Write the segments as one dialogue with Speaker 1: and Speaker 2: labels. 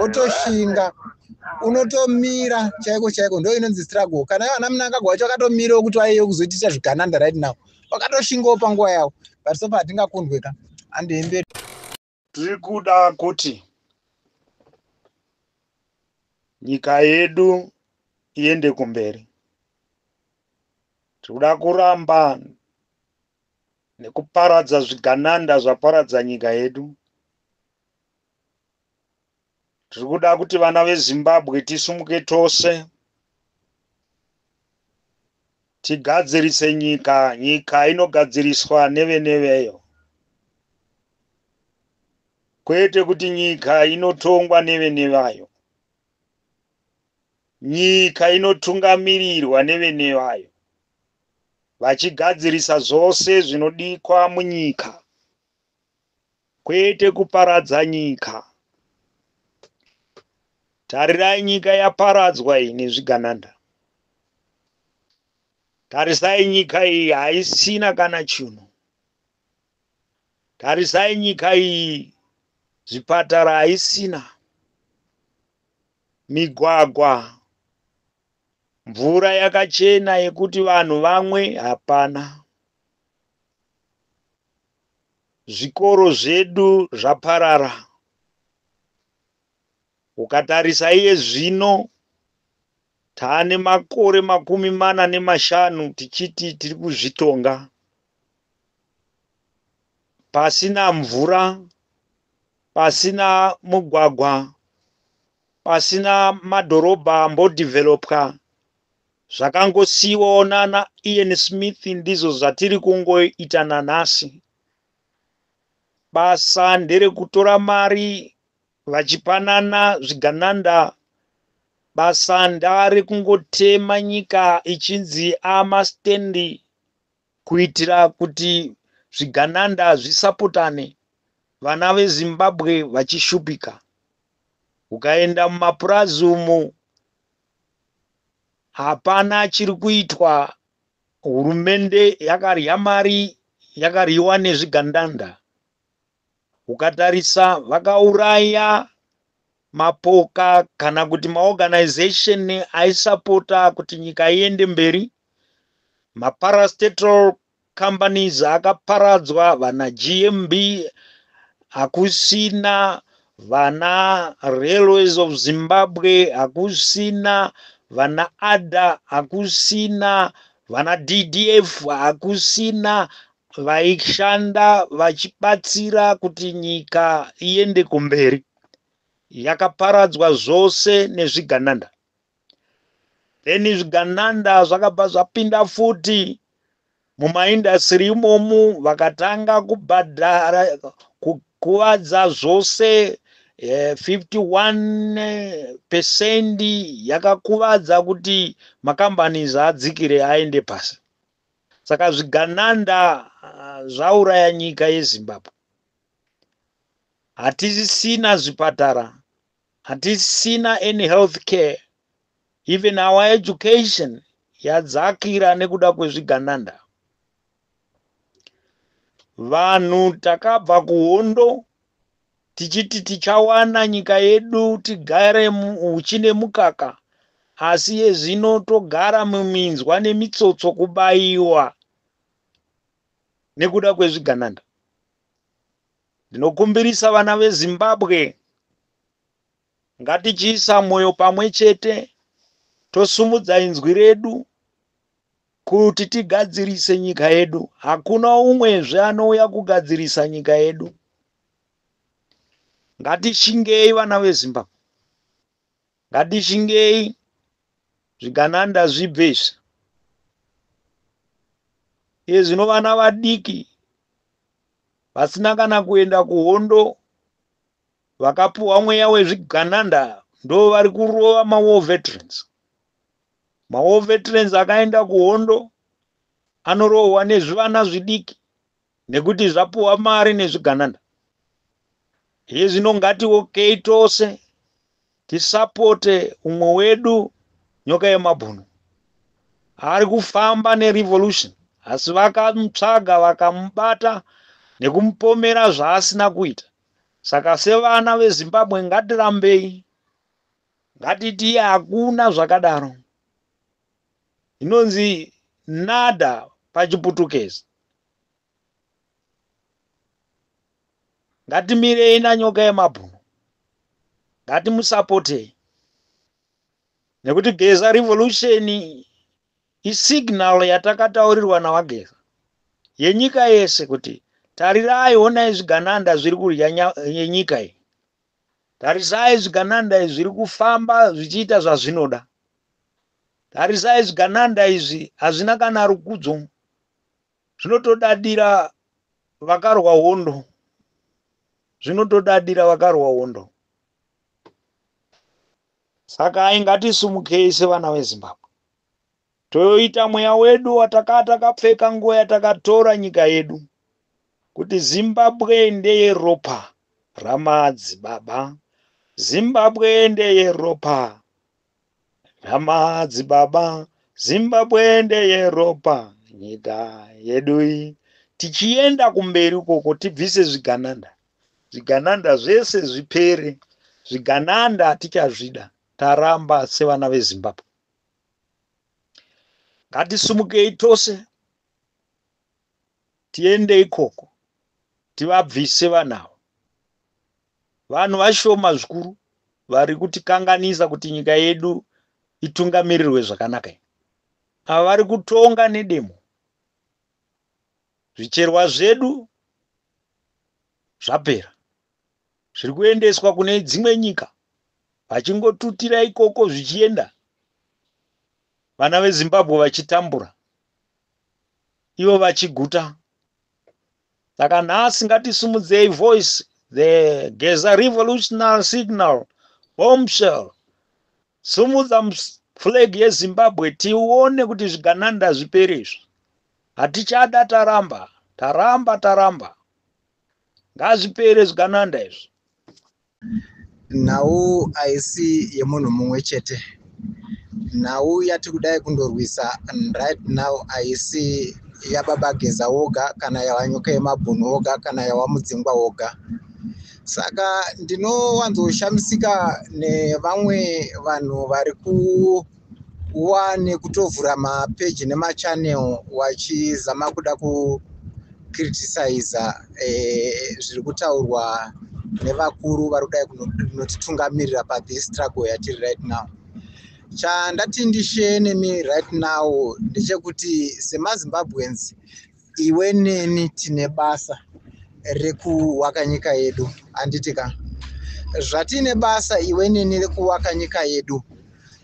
Speaker 1: wotoshinga unotomira chaiko chaiko ndo inonzi struggle kana ivo ana munangagwa wacho wakatomirawo kuti waiye kuzotiita zvigananda right now wakatoshingawo panguva yavo but sofa hatingakundwe ka andiemberi tiri
Speaker 2: kuda kuti nyika yedu iende kumberi tiri kuda kuramba nekuparadza zvigananda zvaparadza nyika yedu Tiri kuda kuti vana veZimbabwe tisumuke tose tigadzirise nyika, nyika inogadziriswa nevene veyo kwete kuti nyika inotongwa nevene vayo. Nyika inotungamirirwa nevene vayo vachigadzirisa zvose zvinodikwa munyika kwete kuparadza nyika. Tarirai nyika yaparadzwa iyi nezvigananda. Tarisai nyika iyi haisina kana chinhu. Tarisai nyika iyi zvipatara haisina, migwagwa, mvura yakachena yekuti vanhu vamwe hapana. zvikoro zvedu zvaparara. Ukatarisa iye zvino taane makore makumi mana nemashanu tichiti tiri kuzvitonga pasina mvura, pasina mugwagwa, pasina madhorobha ambodevelopwa Zvakangosiiwawo nana Ian Smith ndizvo zvatiri kungoita nanhasi. Basa nderekutora mari vachipanana zvigananda basa ndare kungotema nyika ichinzi amastendi kuitira kuti zvigananda zvisapotane vana vezimbabwe vachishupika ukaenda mumapurazi umu hapana chiri kuitwa hurumende yakarya mari yakaryiwa nezvigandanda ukatarisa vakauraya mapoka kana kuti maorganization aisapota kuti nyika iende mberi maparastatal companies akaparadzwa vana GMB hakusina vana Railways of Zimbabwe hakusina vana ADA hakusina vana DDF hakusina vaishanda vachibatsira kuti nyika iende kumberi yakaparadzwa zvose nezvigananda then zvigananda zvakabva zvapinda futi mumaindasiri imomu vakatanga kubhadhara kukuvadza zvose 51 eh, percent yakakuvadza kuti makambani zvaadzikire aende pasi saka zvigananda ah, zvauraya nyika yezimbabwe hatisisina zvipatara Hatisina any health care even our education yadzakira nekuda kwezvigananda. Vanhu takabva kuhondo tichiti tichawana nyika yedu tigare uchi nemukaka asi yezvino togara muminzwa nemitsotso kubayiwa nekuda kwezvigananda Ndinokumbirisa vana veZimbabwe ngatichiisa mwoyo pamwe chete tosumudza inzwi redu kuti tigadzirise nyika yedu. Hakuna umwezve anouya kugadzirisa nyika yedu. Ngatishingei vana veZimbabwe, ngatishingei zvigananda zvibve izvi. Iye zvino vana vadiki vasina kana kuenda kuhondo vakapuhwa mweya wezvigananda ndo vari kurova mawar veterans mawar veterans akaenda kuhondo anorohwa nezvivana zvidiki nekuti zvapuhwa mari nezvigananda hezvino ngatiokei tose Tisapote umwe wedu nyoka yemabhunu ari kufamba nerevolution asi vakamutsvaga vakamubata nekumupomera zvaasina kuita saka sevana vezimbabwe ngatirambei ngatiti hakuna zvakadaro inonzi nada pachiputukezi Ngatimirei nanyoka yemabhunu. Ngatimusapotei. Nekuti Geza Revolution isignal yatakataurirwa naVaGeza yenyika yese kuti tarirai honai zvigananda zviri kudya nyika iyi. Tarisai zvigananda izvi zviri kufamba zvichiita zvazvinoda. Tarisai zvigananda izvi hazvina kana rukudzo zvinotodadira vakarwa hondo zvinotodadira vakarwa hondo saka ai ngatisumukei sevana vezimbabwe toyoita mweya wedu watakaa takapfeka nguva yatakatora nyika yedu kuti zimbabwe ndeye ropa ramadzi baba zimbabwe ndeye ropa Nhama dzibaba, Zimbabwe ndeyeropa nyika yedu iyi. Tichienda kumberi ukoko tibvise zvigananda. Zvigananda zvese zvipere. Zvigananda tichazvida taramba sevana veZimbabwe. Ngatisumukei tose tiende ikoko tivabvise vanavo. Vanhu vashoma zvikuru vari kutikanganisa kuti nyika yedu itungamirirwe zvakanaka iyi. Ava vari kutonga nedemo. Zvicherwa zvedu zvapera. Zviri kuendeswa kune dzimwe nyika vachingotutira ikoko zvichienda vana veZimbabwe vachitambura ivo vachiguta saka nhasi ngatisimudzei voice the geza revolutionary signal bombshell sumudza flag yezimbabwe tione kuti zvigananda zvipere izvi hatichada taramba taramba taramba ngazvipere zvigananda izvi nhau
Speaker 1: haisi yemunhu mumwe chete nhau yati kudai kundorwisa right now haisi yababa geza woga kana yawanyuka yemabhunu woga kana yawamudzingwa woga saka ndinowanzoshamisika nevamwe vanhu vari ku wani kutovhura mapeji nemachannel wachizama kuda kucriticisa eh, zviri kutaurwa nevakuru vari kudai kunotitungamirira pathis struggle yatiri right now chandati ndishe nemi right now ndechekuti semazimbabweans iwe neni tine basa rekuwaka nyika yedu handiti ka zvatine basa iwe neni rekuwaka nyika yedu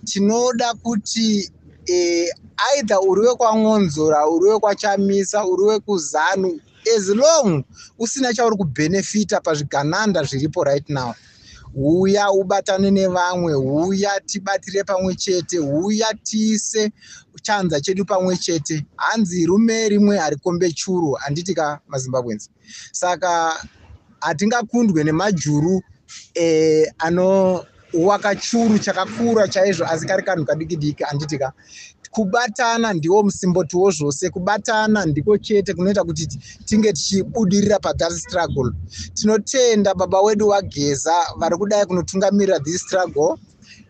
Speaker 1: tinoda kuti eh, either uri wekwan'onzora uri wekwachamisa uri wekuzanu as long usina chauri kubhenefita pazvigananda zviripo right now huya ubatane nevamwe huya tibatire pamwe chete huya tiise chanza chedu pamwe chete hanzi rume rimwe harikombe churu handiti ka mazimbabwenzi saka hatingakundwe nemajuru eh, ano waka churu chakakura chaizvo asi kari kanhu kadikidiki handiti ka kubatana ndiwo musimboti wozvose kubatana ndiko chete kunoita kuti tinge tichibudirira pathat struggle tinotenda baba wedu wageza vari kudai kunotungamirira this struggle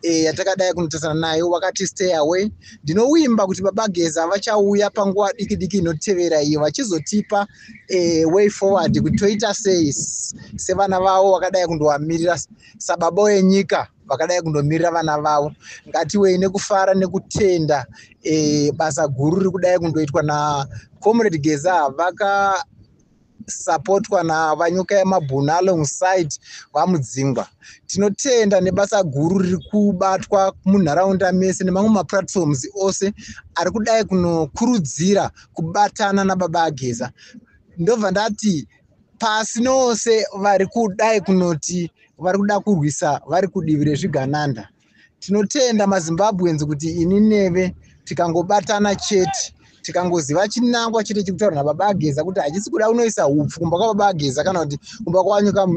Speaker 1: eh, yatakadai e, kunotarisana nayo wakati stay away ndinovimba kuti baba geza vachauya panguva diki diki inotevera iyo vachizotipa e, way forward kuti toita sei sevana vavo vakadai kundovamirira sababa wenyika vakadai kundomirira vana vavo ngatiwei nekufara nekutenda e, basa guru riri kudai kundoitwa nacomrade geza vaka supportwa navanyuka yemabhunu alongside vamudzingwa tinotenda nebasa guru riri kubatwa munharaunda mese nemamwe maplatforms ose ari kudai kunokurudzira kubatana nababa ageza ndobva ndati pasi nose vari kudai kunoti vari kuda kurwisa vari kudivi rezvigananda tinotenda mazimbabweans kuti ini neve tikangobatana chete tikangoziva chinangwa chete chekutaura nababa ageza kuti hachisi kuda unoisa upfu kumba kwababa ageza kana kuti kumba kwawanyuka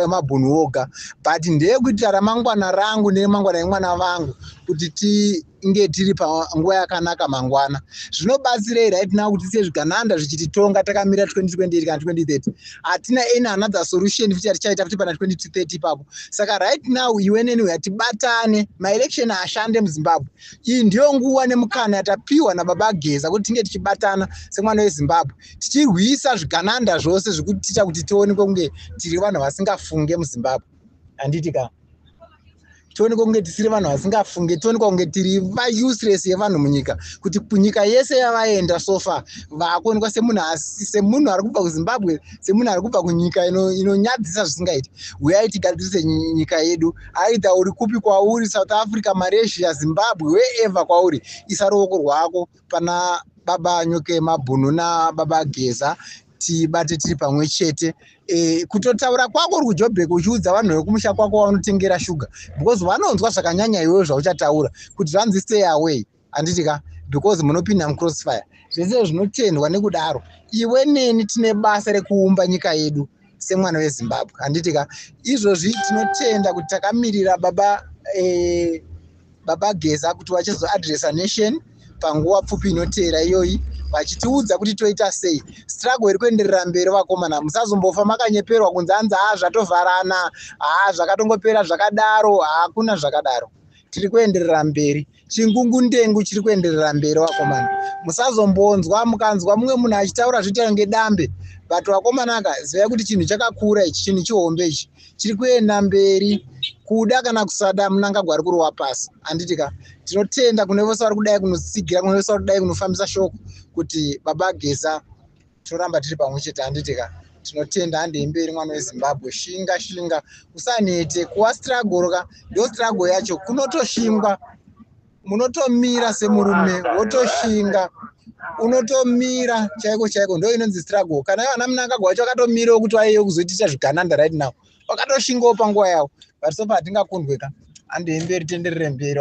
Speaker 1: mabhunu woga but ndeyekuitira ramangwana rangu neremangwana emwana vangu kuti ti inge tiri panguva yakanaka mangwana zvinobatsirei right now kuti tiye zvigananda zvichititonga takamira 2028 kana 2030 hatina any another solution futi yatichaita futi pana 2030 ipapo saka right now iwe neni uya tibatane maelection ashande muzimbabwe iyi ndiyo nguva nemukana yatapiwa nababa geza kuti tinge tichibatana semwana wezimbabwe tichirwisa zvigananda zvose zvekutiita kuti tionekwe kunge tiri vanhu vasingafunge muzimbabwe handiti kaa tionekwa kunge tisiri vanhu vasingafunge tionekwa kunge tiri vauseless yevanhu munyika kuti nyika yese yavaenda sofa vakuonekwa semunhu asi semunhu ari kubva kuzimbabwe semunhu ari kubva kunyika inonyadzisa ino zvisingaiti huyai tigadzirise nyika yedu aitha uri kupi kwauri south africa malaysia zimbabwe wherever kwauri isa ruoko rwako pana baba nyuke mabhunu nababa geza tibate tiri pamwe chete e, kutotaura kwako uri kujobheka uchiudza vanhu vekumusha kwako waunotengera shuga because vanonzwa zvakanyanya iweyo zvauchataura kuti zvanzi stay away handiti ka because munopinda mucrossfire zvese zvinotendwa nekudaro iwe neni tine basa rekuumba nyika yedu semwana wezimbabwe handiti ka izvozvi tinotenda kuti takamirira baba eh, baba geza kuti vachizoadressa nation panguva pfupi inoteera iyoyi vachitiudza kuti toita sei struggle iri kuenderera mberi vakomana musazombofa makanyeperwa kunzi anzi haa zvatovharana haa zvakatongopera zvakadaro hakuna zvakadaro tiri kuenderera mberi chingungundengu chiri kuenderera mberi vakomana musazombonzwa mukanzwa mumwe munhu achitaura zvoita kunge dambe but vakomana ka zivai kuti chinhu chakakura ichi chinhu chihombe ichi chiri kuenda mberi kuda kana kusada munangagwa ari kurova pasi handiti ka tinotenda kune vose vari kudai kunosigira kune vose vari kudai kunofambisa shoko kuti baba geza toramba tiri pamwe chete handiti ka tinotenda handei mberi mwana wezimbabwe shinga shinga usanete kuwa struggle ka ndo struggle yacho kunotoshingwa munotomira semurume wotoshinga unotomira chaiko chaiko ndo inonzi struggle kana ivo ana munangagwa wacho akatomirawo kuti waiyo kuzotiita zvigananda right now wakatoshingawo panguva yavo but sofa hatingakundwe ka handei mberi tenderere mberi